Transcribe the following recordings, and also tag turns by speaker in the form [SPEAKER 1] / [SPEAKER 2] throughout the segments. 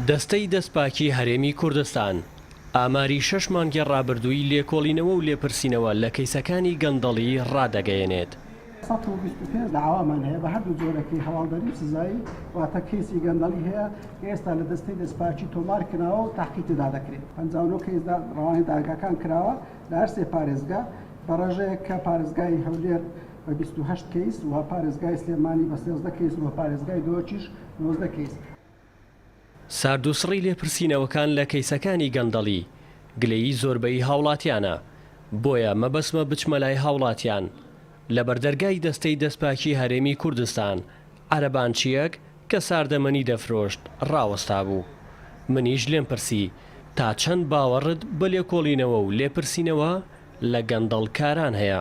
[SPEAKER 1] دەستەی دەستپاکی هەرێمی کوردستان ئاماری شەش مانگی ڕابردووی لێکۆڵینەوە و لێپرسینەوە لە کەیسەکانی گەندەڵی ڕادەگەیەنێت. سەد و بیست و
[SPEAKER 2] پێنج داوامان هەیە بە هەردوو جۆرەکەی هەواڵدەری و سزایی، واتە کەیسی گەندەڵی هەیە کە ئێستا لە دەستەی دەستپاکی تۆمار کراوە و تەحقیق تێدا دەکرێت. پەنجا و نۆ کەیس ڕەوانەی دادگاکان کراوە لە هەر سێ پارێزگا، بە ڕێژەیەک کە پارێزگای هەولێر بە بیست و هەشت کەیس و پارێزگای سلێمانی بە سێزدە کەیس و پارێزگای دهۆکیش نۆزدە کەیس.
[SPEAKER 1] ساردوسڕی لێپرسینەوەکان لە کەیسەکانی گەندەڵی گلەیی زۆربەی هاوڵاتیانە، بۆیە مەبەستمە بچمە لای هاوڵاتیان لەبەر دەرگای دەستەی دەستپاکی هەرێمی کوردستان عەرەبانچیەک کە ساردەمەنی دەفرۆشت ڕاوەستابوو منیش لێم پرسی تا چەند باوەڕت بە لێکۆڵینەوە و لێپرسینەوە لە گەندەڵ کاران هەیە؟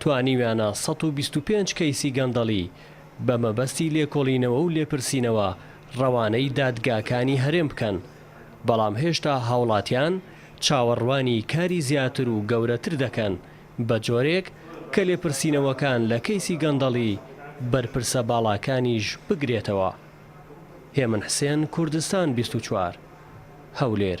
[SPEAKER 1] توانیویانە سەد و بیست و پێنج کەیسی گەندەڵی بە مەبەستی لێکۆڵینەوە و لێپرسینەوە ڕەوانەی دادگاکانی هەرێم بکەن، بەڵام هێشتا هاوڵاتیان چاوەڕوانی کاری زیاتر و گەورەتر دەکەن، بە جۆرێک کە لێپرسینەوەکان لە کەیسی گەندەڵی بەرپرسە باڵاکانیش بگرێتەوە. هێمن حسێن کوردستان بیست و چوار، هەولێر.